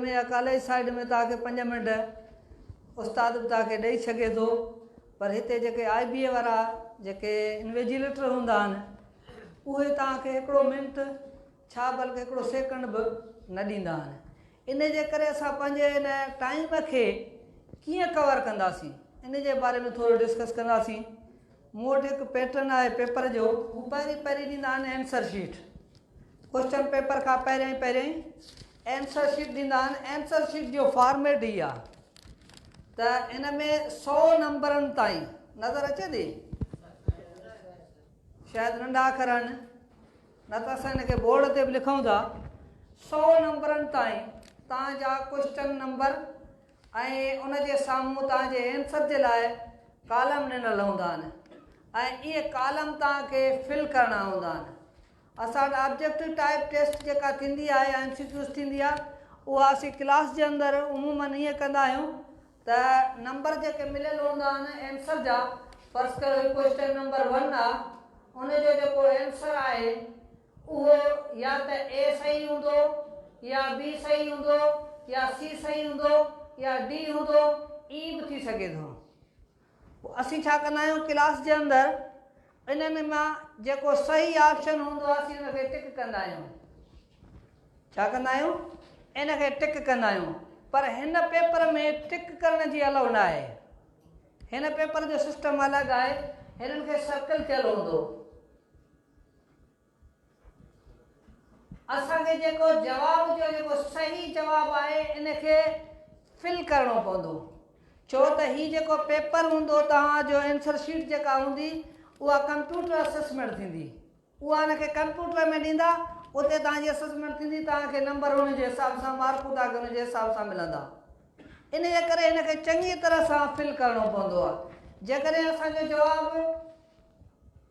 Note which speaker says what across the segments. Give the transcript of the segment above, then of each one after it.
Speaker 1: ۾ يا college side ۾ توهان کي پنج منٽ استاد به توهان کي ڏئي سگهي ٿو پر هتي جيڪي آء بي اي وارا جيڪي انويجيليٽر هوندا آهن اهي توهان کي هڪڙو منٽ ڇا بلڪه هڪڙو سيڪنڊ به نه ڏيندا آهن ان جي ڪري اسان پنهنجي ان ٽائيم کي ڪيئن ڪور ڪنداسين ان جي باري ۾ ٿورو ڊسڪس ڪنداسين مون وٽ هڪ پيٽرن آهي پيپر جو هو پهرين پهرين ڏيندا آهن آنسر شيٽ ڪوشچن پيپر کان پهريائين پهريائين اينسر شيٽ ڏيندا آهن اينسر شيٽ جو فارميٽ هي آهي ته ان ۾ سؤ نمبرن تائين نظر اچي ٿي شايد ننڍا اکر آهن نه ته اسان هن کي بورڊ تي به لکون ٿا سؤ نمبرن تائين تان جا ڪوشچن نمبر ۽ ان جي سامهون تان جي اينسر جي لاء ڪالم ڏنل هوندا آهن ۽ اهي ڪالم تان کي فل ڪرڻا هوندا آهن اسان آبجيڪٽو ٽائيپ ٽيسٽ جيڪا ٿيندي آهي يا ايم سي ڪيوز ٿيندي آهي اها اسين ڪلاس جي اندر عموماً ائين ڪندا آهيون ته نمبر جيڪي مليل هوندا آهن اينسر جا فرض ڪيو هي ڪوئسٽن نمبر ون آهي ان جو جيڪو اينسر آهي اهو يا ته اي صحيح هوندو يا بي صحيح هوندو يا سي صحيح هوندو يا ڊي هوندو ائين به ٿي سگهي ٿو. پوء اسين ڇا ڪندا آهيون ڪلاس جي اندر انهن مان جيڪو صحيح آپشن هوندو آهي اسين ان کي ٽڪ ڪندا آهيون ڇا ڪندا آهيون ان کي ٽڪ ڪندا آهيون پر هن پيپر ۾ ٽڪ ڪرڻ جي الاؤ نه آهي هن پيپر جو سسٽم الڳ آهي هنن کي سرڪل ٿيل هوندو اسان کي جيڪو جواب جو جيڪو صحيح جواب آهي ان کي فل ڪرڻو پوندو ڇو ته هي جيڪو پيپر هوندو توهان جو انسر شيٽ جيڪا هوندي اها ڪمپيوٽر اسسمينٽ ٿيندي اها ان کي ڪمپيوٽر ۾ ڏيندا اتي توهان جي اسسمينٽ ٿيندي توهان کي نمبر ان جي حساب سان مارڪون توهان کي ان جي حساب سان ملندا ان جي ڪري هن کي چڱي طرح سان فل ڪرڻو پوندو آهي جيڪڏهن اسان جو جواب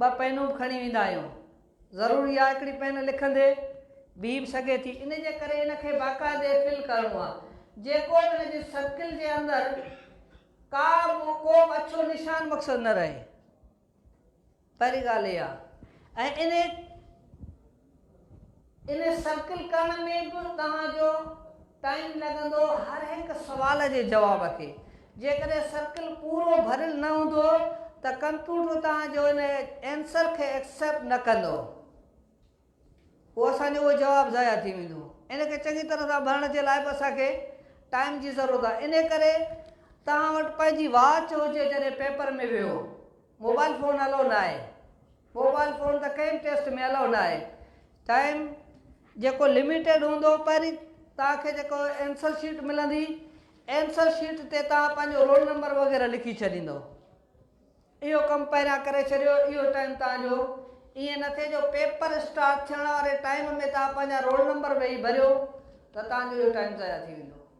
Speaker 1: ٻه پينون به کڻي ويندا آهيون. ضروري آهي هڪڙي پين لکندي بيهي به سگهي ٿي. ان جي ڪري ان کي باقاعدي فل ڪرڻو آهي. جيڪو به ان جي سرڪل جي اندر ڪا به ڪو به اڇو نشان مقصد نه رهي. پهرين ڳالهه اها آهي ۽ انهي. ان سرڪل ڪرڻ ۾ به توهان جو ٽائيم لڳندو هر هڪ سوال جي جواب کي جيڪڏهن سرڪل پورو ڀريل نه هوندو ته ڪمپيوٽر توهان جو ان اينسر کي ايڪسيپٽ نه ڪندو پوء اسان جو اهو جواب ضايع ٿي ويندو ان کي چڱي طرح سان ڀرڻ جي لاء به اسان کي ٽائيم جي ضرورت آهي ان ڪري توهان وٽ پنهنجي واچ هجي جڏهن پيپر ۾ ويهو موبائل فون الو ناهي. موبائل فون ته ڪنهن به ٽيسٽ ۾ الائو ناهي ٽائيم جيڪو لميٽيڊ هوندو پهرين توهان کي جيڪو ائنسر شيٽ ملندي ائنسر شيٽ تي توهان پنهنجو رول نمبر وغيره لکي ڇڏيندو اهو ڪم پهريان ڪري ڇڏيو اهو ٽائيم توهان جو ائين نه ٿئي جو پيپر اسٽارٽ ٿيڻ واري ٽائيم ۾ توهان پنهنجا رول نمبر ويهي ڀريو ته توهان جو اهو ٽائيم ضايع ٿي ويندو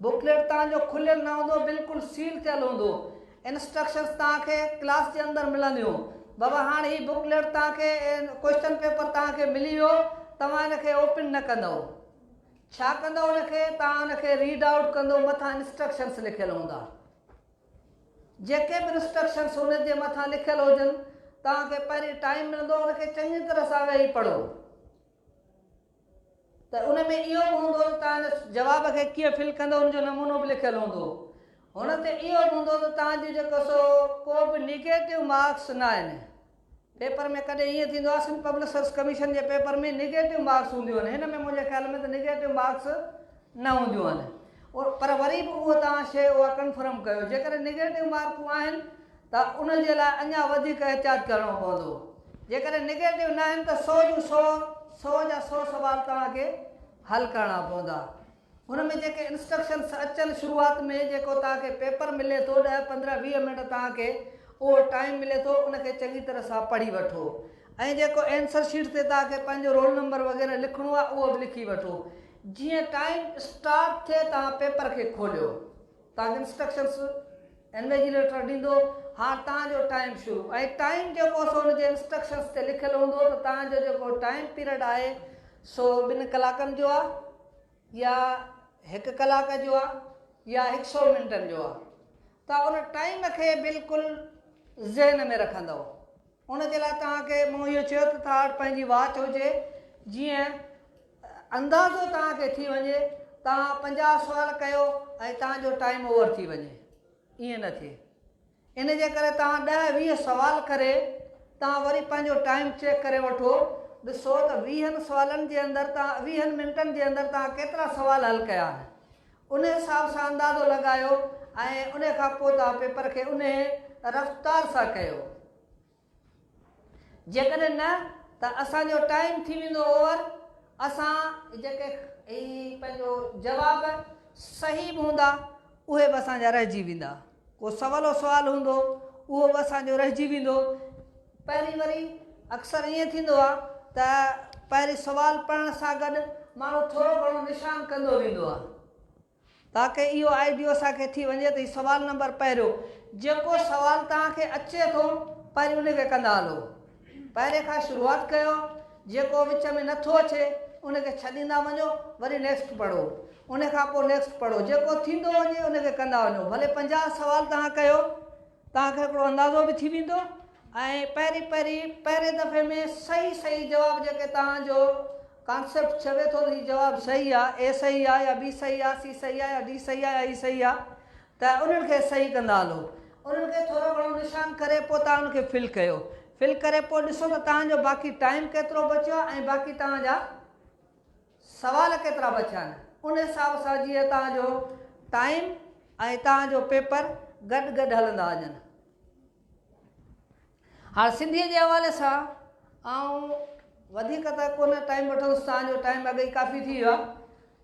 Speaker 1: بڪليٽ توهان جو کليل نه هوندو بلڪل سيل ٿيل هوندو انسٽرڪشنز توهان کي ڪلاس جي اندر ملنديون بابا هاڻ هي بڪليٽ توهان کي ڪوئسچن پيپر توهان کي ملي ويو توهان ان کي اوپن نه ڪندؤ ڇا ڪندؤ ان کي توهان ان کي ريڊ آئوٽ ڪندو مٿان انسٽرڪشنز لکيل هوندا جيڪي به انسٽرڪشنز ان جي مٿان لکيل هجن توهان کي پهرين ٽائيم ملندو ان کي چڱي طرح سان ويهي پڙهو ته ان ۾ اهو به هوندو ته توهان جي جواب کي ڪيئن فل ڪندو ان جو نمونو به لکيل هوندو. هن تي اهو به هوندو ته توهان جون جيڪو سو ڪو به نيگيٽو مارڪس نه آهن. پيپر ۾ ڪڏهن ائين ٿيندو آهي سنڌ پبلڪ سروس ڪميشن جي پيپر ۾ نيگيٽو مارڪس هونديون آهن هن ۾ منهنجي خيال ۾ ته نيگيٽو مارڪس نه هونديون آهن پر وري به اهو توهان شيء اها ڪنفرم ڪيو جيڪڏهن نيگيٽو مارڪون آهن ته ان جي لاء اڃا وڌيڪ احتياط ڪرڻو پوندو. جيڪڏهن نيگيٽو ناهن ته سؤ جون سؤ، سؤ جا سؤ سوال توهان کي حل ڪرڻا پوندا. هن ۾ جيڪي انسٽرڪشنس اچن شروعات ۾ جيڪو توهان کي پيپر ملي ٿو ڏهه پندرهن ويهه منٽ توهان کي اهو ٽائيم ملي ٿو ان کي چڱي طرح سان پڙهي وٺو ۽ جيڪو اينسر شيٽ تي توهان کي پنهنجو رول نمبر وغيره لکڻو آهي اهو به لکي وٺو جيئن ٽائيم اسٽارٽ ٿئي توهان پيپر کي کوليو توهان کي انسٽرڪشنس هن جي ليٽر ڏيندو، هاڻ توهان جو ٽائيم شروع ۽ ٽائيم جيڪو سو ان جي انسٽرڪشنس تي لکيل هوندو ته توهان جو جيڪو ٽائيم پيريڊ آهي سو ٻن ڪلاڪن جو آهي يا هڪ ڪلاڪ جو آهي يا هڪ سئو منٽن جو آهي توهان ان ٽائيم کي بلڪل ذهن ۾ رکندؤ ان جي لاء توهان کي مون اهو چيو ته توهان وٽ پنهنجي واچ هجي جيئن اندازو توهان کي ٿي وڃي توهان پنجاهه سوال ڪيو ۽ توهان جو ٽائيم اوور ٿي وڃي ائين نه ٿئي ان جي ڪري توهان ڏهه ويهه سوال ڪري توهان وري پنهنجو ٽائيم چيڪ ڪري وٺو ڏسو ته ويهن سوالن جي اندر توهان ويهن منٽن جي اندر توهان ڪيترا سوال حل ڪيا آهن ان حساب سان اندازو لڳايو ۽ ان کان پوء توهان پيپر کي انهي رفتار سان ڪيو جيڪڏهن نه ته اسان جو ٽائيم ٿي ويندو اوور اسان جيڪي هي پنهنجو جواب صحيح به هوندا اهي به اسان جا رهجي ويندا ڪو سولو سوال هوندو اهو به اسان جو رهجي ويندو پهرين وري اڪثر ائين ٿيندو آ ته پهرين سوال پڙهڻ سان گڏ ماڻهو ٿورو گهڻو نشان ڪندو ويندو آ تاڪه اهو آئيڊيو اسان کي ٿي وڃي ته هي سوال نمبر پهريون جيڪو سوال توهان کي اچي ٿو پهرين ان کي ڪندا هلو پهرين کان شروعات ڪيو جيڪو وچ ۾ نٿو اچي ان کي ڇڏيندا وڃو وري نيڪسٽ پڙهو ان کان پوء نيڪسٽ پڙهو جيڪو ٿيندو وڃي ان کي ڪندا وڃو ڀلي پنجاهه سوال توهان ڪيو توهان کي هڪڙو اندازو به ٿي ويندو ۽ پهرين پهرين پهرين دفعي ۾ صحيح صحيح جواب جيڪي توهان جو ڪانسيپٽ چوي ٿو ته هي جواب صحيح آ، اي صحيح آ يا بي صحيح آ، سي صحيح آ يا ڊي صحيح آ يا اي صحيح آ ته انهن کي صحيح ڪندا هلو. انهن کي ٿورو گهڻو نشان ڪري پوء توهان ان کي فل ڪيو. فل ڪري پوء ڏسو ته توهان جو باقي ٽائيم ڪيترو بچيو آ ۽ باقي توهان جا سوال ڪيترا بچيا آهن. ان حساب سان جيئن توهان جو ٽائيم ۽ توهان جو پيپر گڏ گڏ هلندا وڃن. هاڻ سنڌيء جي حوالي سان آئون وڌيڪ ته ڪونه ٽائيم وٺندس تان جو ٽائيم اڳ ئي ڪافي ٿي ويو آهي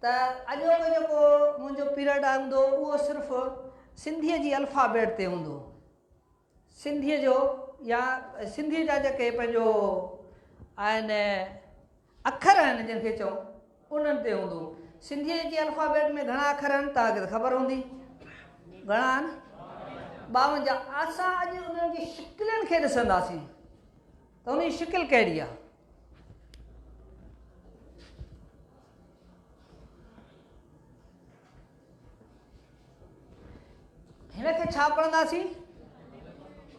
Speaker 1: ته اڄوڪو جيڪو منهنجو پيرڊ هوندو اهو صرف سنڌيء جي الفابيٽ تي هوندو سنڌيء جو يا سنڌيء جا جيڪي پنهنجو آهن اکر آهن جن کي چئون انهن تي هوندو. سنڌيء جي الفابيٽ ۾ گهڻا اکر آهن توهان کي ته خبر هوندي گهڻا آهن؟ ٻاونجاهه. اسان اڄ انهن جي شڪلين کي ڏسنداسين ته ان جي شڪل ڪهڙي آهي. هن کي ڇا پڙهنداسين؟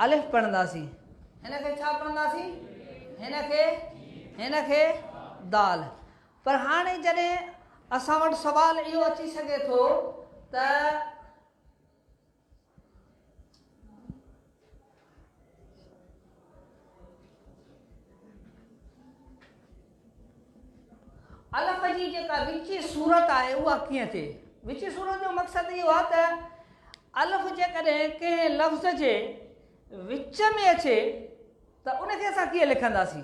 Speaker 1: الف پڙهنداسين. هن کي ڇا پڙهنداسين؟ هن کي هن کي دال. پر هاڻي جڏهن اسان وٽ سوال اهو اچي سگهي ٿو ته. الف جي جيڪا وچي صورت آهي اها ڪيئن ٿئي وچي صورت جو مقصد اهو آهي ته الف جيڪڏهن ڪنهن لفظ جي وچ ۾ اچي ته ان کي اسان ڪيئن لکنداسين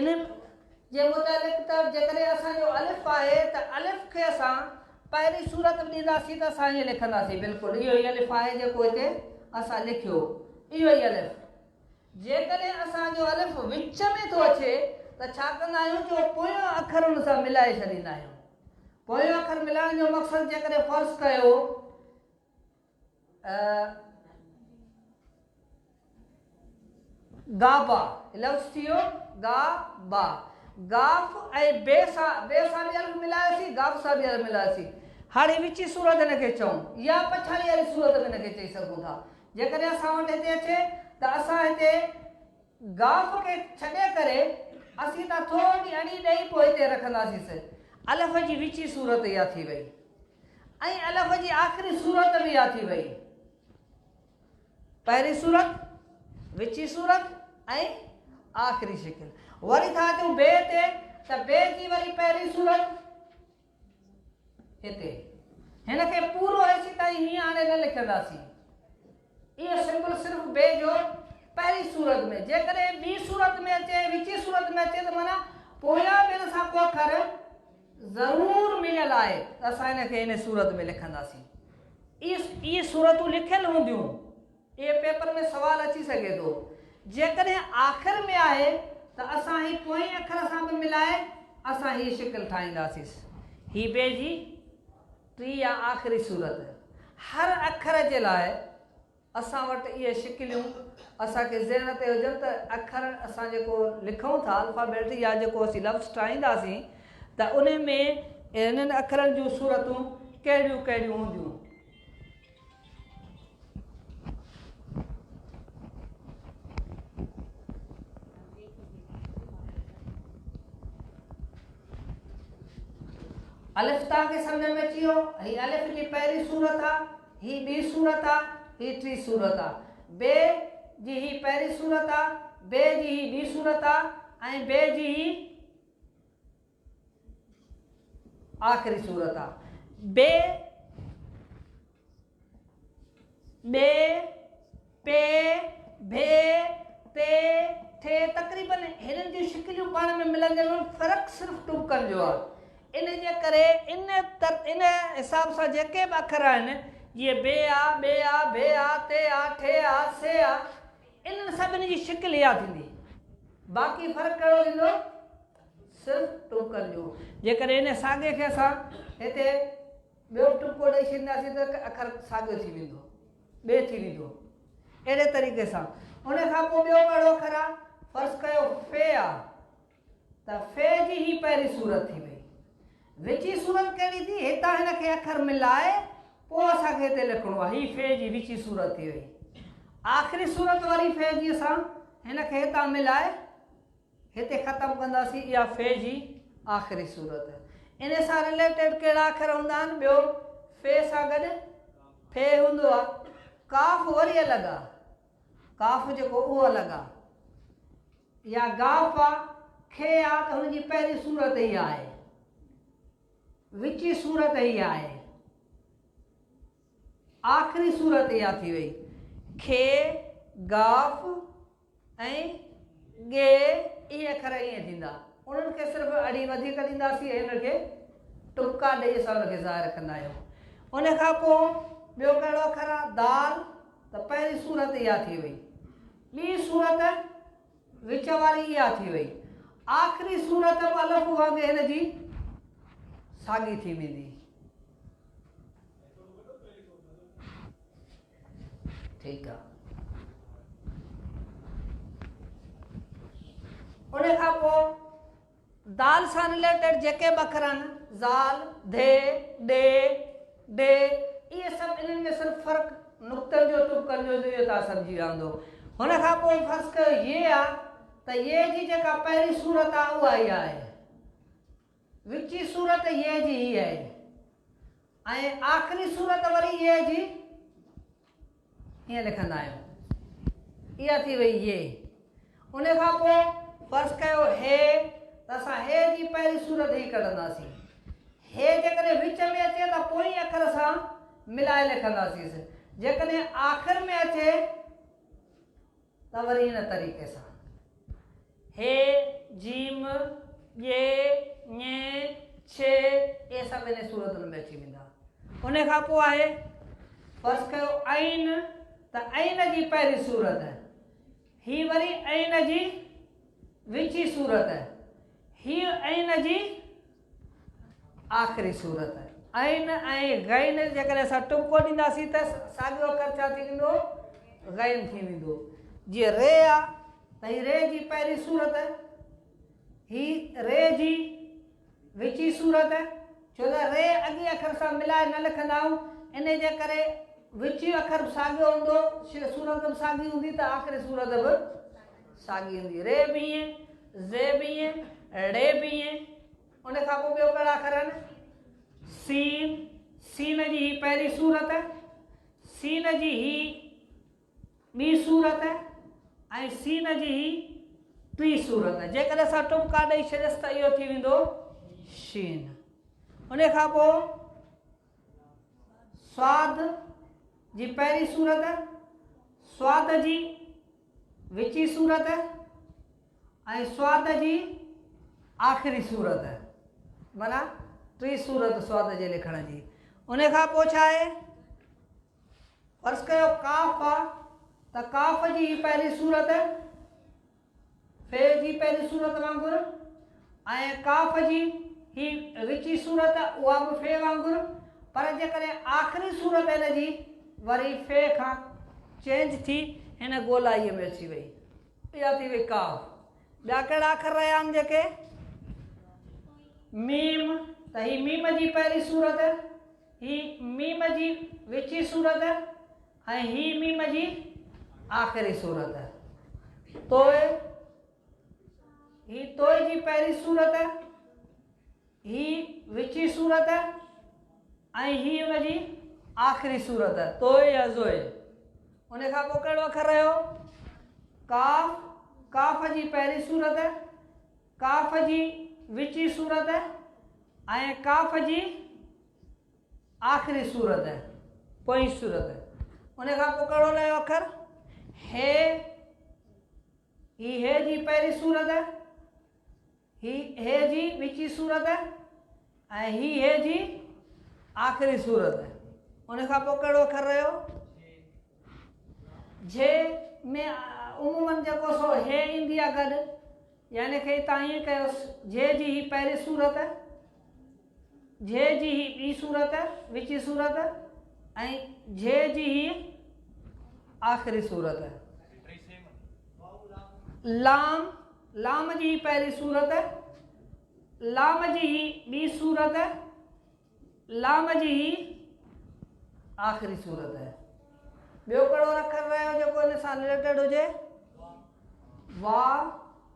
Speaker 1: انهن جي متعلق ته جيڪڏهن اسان جو الف آهي ته الف کي اسان پهرين صورت به ڏينداسين ته اسان ائين لکنداسين بلڪل اهو ئي الف آهي جيڪو هتي اسان لکيو اهو ئي الف جيڪڏهن اسان جو الف وچ ۾ ٿو اچي ته ڇا ڪندا آهيون جو پويان اکر ان سان ملائي ڇڏيندا آهيون پويان اکر ملائڻ جو مقصد جيڪڏهن فرض ڪيو گابا، لفظ ٿي ويو گا با، گاف ۽ بي سا بي سا به الف ملائي سي گاف سا به الف ملائي سي هاڻي وچي صورت هن کي چئون يا پڇاڙي واري صورت به هن کي چئي سگهون ٿا جيڪڏهن اسان وٽ هتي اچي ته اسان هتي گاف کي ڇڏي ڪري اسين ته ٿورڙي اڙي ڏئي پوء هتي رکنداسين الف جي وچي صورت اها ٿي وئي ۽ الف جي آخري صورت به يا ٿي وئي. پهرين صورت، وچين صورت ۽ آخري شڪل. وري ٿا اچون بي تي ته بي جي وري پهرين صورت هتي. هن کي پورو هيسي تائين هيئن هاڻي نه لکنداسين. اهو سمبل صرف بي جو پهرين صورت ۾ جيڪڏهن ٻي صورت ۾ اچي ۽ وچين صورت ۾ اچي ته معنيٰ پويان بين سان ڪو اکر ضرور مليل آهي ته اسان ان کي ان صورت ۾ لکنداسين. اهي صورتون لکيل هونديون. اهي پيپر ۾ سوال اچي سگهي ٿو. جيڪڏهن آخر ۾ آهي ته اسان هي پوئين اکر سان به ملائي اسان هي شڪل ٺاهينداسيس. هي بي جي. ٽي يا آخري صورت، هر اکر جي لاء اسان وٽ اهي شڪليون اسان کي ذهن تي هجن ته اکر اسان جيڪو لکون ٿا الفابيٽ يا جيڪو اسين لفظ ٺاهينداسين ته انهن ۾ انهن اکرن جون صورتون ڪهڙيون ڪهڙيون هونديون. الف تان کي سمجھ ۾ اچي ويو هي الف جي پهرين صورت آ هي ٻي صورت آ هي ٽي صورت آ بي جي هي پهرين صورت آ بي جي هي ٻي صورت آ ۽ بي جي هي آخري سورت آ. بي بي پي ڀي پي ٿي تقريباً هنن جون شڪليون پاڻ ۾ ملنديون آهن فرق صرف ٽٻڪن جو آهي ان جي ڪري ان ان حساب سان جيڪي به اکر آهن جيئن بي آ ٻي آ ڀي آ تي آ ٺي آ سي آ انهن سڀني جي شڪل اها ٿيندي باقي فرق ڪهڙو ٿيندو صرف ٽوڪر جو. جيڪڏهن انهيء ساڳي کي اسان هتي ٻيو ٽپڪو ڏئي ڇڏينداسين ته هڪ اکر ساڳيو ٿي ويندو، ٻئي ٿي ويندو. اهڙي طريقي سان ان کان پوء ٻيو اهڙو اکر آ، فرض ڪيو ف آ ته ف جي هي پهرين صورت ٿي وئي. وچين صورت ڪهڙي ٿي؟ هتان هن کي اکر ملائي پوء اسان کي هتي لکڻو آ. هي ف جي وچين صورت ٿي وئي. آخري صورت واري ف جي اسان هن کي هتان ملائي. هتي ختم ڪنداسين اها فعي جي آخري صورت. ان سان رليٽيڊ ڪهڙا اکر هوندا آهن؟ ٻيو فعي سان گڏ فعي هوندو آهي. قاف وري الڳ آهي. قاف جيڪو اهو الڳ آهي. يا غاف آ، کي آ ته هن جي پهرين صورت هي آهي. وچي صورت هي آهي. آخري صورت اها ٿي وئي. کي، غاف، ۽ ڳي اهي اکر ائين ٿيندا. انهن کي صرف اڙي وڌيڪ ڏينداسين ۽ ان کي ٽپڪا ڏئي اسان ان کي ظاهر ڪندا آهيون. ان کان پوء ٻيو ڪهڙو اکر آهي؟ دال ته پهرين صورت اها ٿي وئي. ٻي صورت وچ واري اها ٿي وئي. آخري صورت به الف وانگي هن جي ساڳي ٿي ويندي. ٺيڪ آ. ان کان پوء دال سان رليٽيڊ جيڪي به اکر آهن، ذال، ڌي، ڏي، ڊي، اهي سڀ انهن ۾ صرف فرق نقطن جو ٽپڪن جو ذريعو تان سمجهي وهندو. هن کان پوء فرض ڪيو ي آ ته ي جي جيڪا پهرين صورت آ اها ئي آهي. وچي صورت يء جي هي آهي ۽ آخري صورت وري يء جي ائين لکندا آهيون اها ٿي وئي يي ان کان پوء فرض ڪيو هي ته اسان هي جي پهرين صورت هي ڪڍنداسين هي جيڪڏهن وچ ۾ اچي ته پوئين اکر سان ملائي لکنداسين جيڪڏهن آخر ۾ اچي ته وري ان طريقي سان، ه، ج، م، ڄ، ڃ، ڇ، اهي سڀ انهي صورتن ۾ اچي ويندا. انهي کان پوء آهي، فرض ڪيو، عين، ته عين جي پهرين صورت، هي وري عين جي وچين صورت، هيء عين جي. آخري صورت، عين ۽ غين جيڪڏهن اسان ٽٻڪو ڏينداسين ته ساڳيو اکر ڇا ٿي ويندو؟ غين ٿي ويندو. جيئن ري آ ته هي ري جي پهرين صورت، هي ري جي وچين صورت، ڇو ته ري اڳئين اکر سان ملائي نه لکندا آهيون، انهي جي ڪري وچيون اکر به ساڳيو هوندو، صورت به ساڳي هوندي ته آخري صورت به. ساڳي هوندي ري بي اين، زي بي اين، ڙي بي اين. ان کان پوء ٻيو ڪهڙا اکر آهن؟ سين، سين جي هي پهرين صورت، سين جي هي ٻي صورت ۽ سين جي هي ٽي صورت. جيڪڏهن اسان ٽٻڪا ڏئي ڇڏيس ته اهو ٿي ويندو شين. ان کان پوء سواد جي پهرين صورت، سواد جي وچين سورت ۽ سوات جي آخري سورت معنيٰ ٽين سورت سوات جي لکڻ جي ان کان پوء ڇا آهي فرض ڪيو ڪاف آ ته ڪاف جي پهرين سورت في جي پهرين سورت وانگر ۽ قاف جي هي وچي صورت اها به في وانگر پر جيڪڏهن آخري صورت هن جي وري في کان چينج ٿي هن گولائيء ۾ اچي وئي اها ٿي وئي قاف ٻيا ڪهڙا اکر رهيا آهن جيڪي ميم ته هي ميم جي پهرين صورت هي ميم جي وچي صورت ۽ هي ميم جي آخري صورت تو هي توئي جي پهرين سورت، هي وچي سورت ۽ هي ان جي آخري سورت توئي يا زوئي. ان کان پوء ڪهڙو اکر رهيو؟ قاف، قاف جي پهرين سورت، قاف جي وچي سورت ۽ قاف جي آخري سورت پوئين سورت. ان کان پوء ڪهڙو رهيو اکر؟ هي. هي هيء جي پهرين سورت آهي، هي هيء جي وچين سورت آهي ۽ هي هيء جي آخرين سورت آهي. ان کان پوء ڪهڙو اکر رهيو؟ جهي. جهي ۾ عموماً جيڪو سو هيء ايندي آهي گڏ، يعني کي تان ائين ڪيوس، جهي جي هي پهرين سورت آهي. جهه جي هي ٻي صورت، وچي صورت، ۽ جهه جي هي آخري صورت. لام، لام جي هي پهرين صورت، لام جي هي ٻي صورت، لام جي هي آخري صورت. ٻيو ڪهڙو اکر رهيو جيڪو ان سان رليٽيڊ هجي؟ وا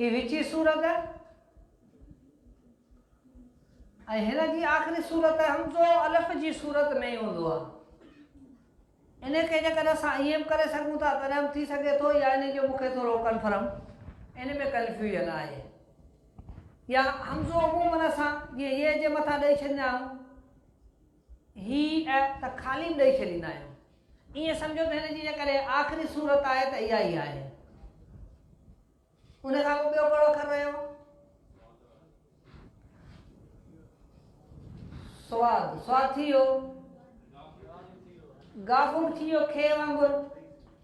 Speaker 1: هي وچين سورت ۽ هن جي آخري سورت همزو الف جي سورت ۾ هوندو آهي ان کي جيڪڏهن اسان ائين به ڪري سگهون ٿا تڏهن به ٿي سگهي ٿو يا ان جو مونکي ٿورو ڪنفرم ان ۾ ڪنفيوژن آهي يا همزو عمومن اسان جيئن اي جي مٿان ڏيئي ڇڏندا آهيون هي ته خالي ڏئي ڇڏيندا آهيون. ائين سمجهو ته هن جي جيڪڏهن آخري صورت آهي ته اها ئي آهي. ان کان پوء ٻيو ڪهڙو اکر رهيو؟ سواد سواد ٿي ويو، غافور ٿي ويو، کي وانگر.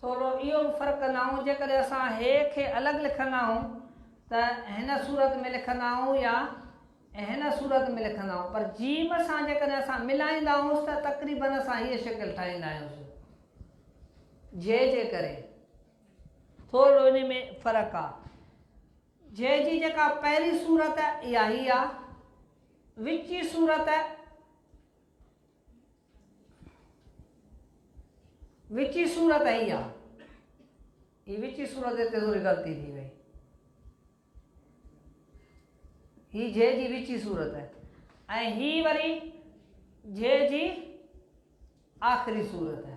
Speaker 1: ٿورو اهو به فرق ڪندا آهيون جيڪڏهن اسان هيء کي الڳ لکندا آهيون ته هن صورت ۾ لکندا آهيون يا هن صورت ۾ لکندا آهيون پر جيم سان جيڪڏهن اسان ملائيندا آهيونس ته تقريبن اسان هيء شڪل ٺاهيندا آهيونس جي جي ڪري ٿورو انهي ۾ فرق آ جي جي جيڪا پهرين صورت اها هي آ وچي صورت وچي صورت هي آ. هي وچي صورت هتي ٿوري غلطي ٿي وئي. هي جي جي وچي صورت آهي ۽ هي وري جي جي آخري صورت آهي.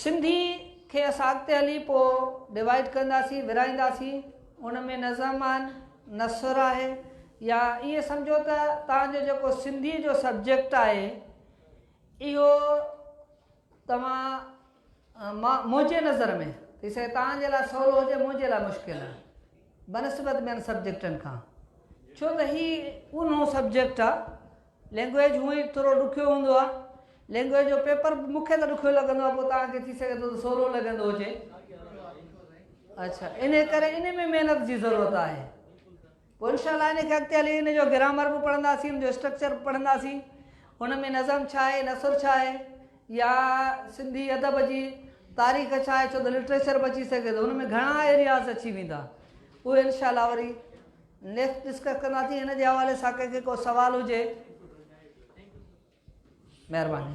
Speaker 1: سنڌي کي اسان اڳتي هلي پوء ڊوائيڊ ڪنداسين ورهائينداسين ان ۾ نه زمان نثر آهي يا ائين سمجهو ته توهان جو جيڪو سنڌي جو سبجيڪٽ آهي اهو توهان مان منهنجي نظر ۾ ٿي سگهي توهان جي لاء سولو هجي منهنجي لاء مشڪل آهي بنسبت ٻين سبجيڪٽن کان ڇو ته هي اونهو سبجيڪٽ آهي لينگويج هونء ئي ٿورو ڏکيو هوندو آهي. لينگويج جو پيپر به مون کي ته ڏکيو لڳندو آهي، پوء توهان کي ٿي سگهي ٿو ته سولو لڳندو هجي. اڇا انهي ڪري انهي ۾ محنت جي ضرورت آهي. پوء انشاء الله انهي کي اڳتي هلي انهي جو گرامر به پڙهنداسين، ان جو اسٽرڪچر به پڙهنداسين. ان ۾ نظم ڇا آهي، نثر ڇا آهي يا سنڌي ادب جي تاريخ ڇا آهي، ڇو ته لٽريچر به اچي سگهي ٿو. ان ۾ گهڻا ايرياز اچي ويندا. اهي انشاء الله وري نيڪسٽ ڊسڪس ڪنداسين هن جي حوالي سان ڪنهن کي ڪو سوال هجي مهرباني.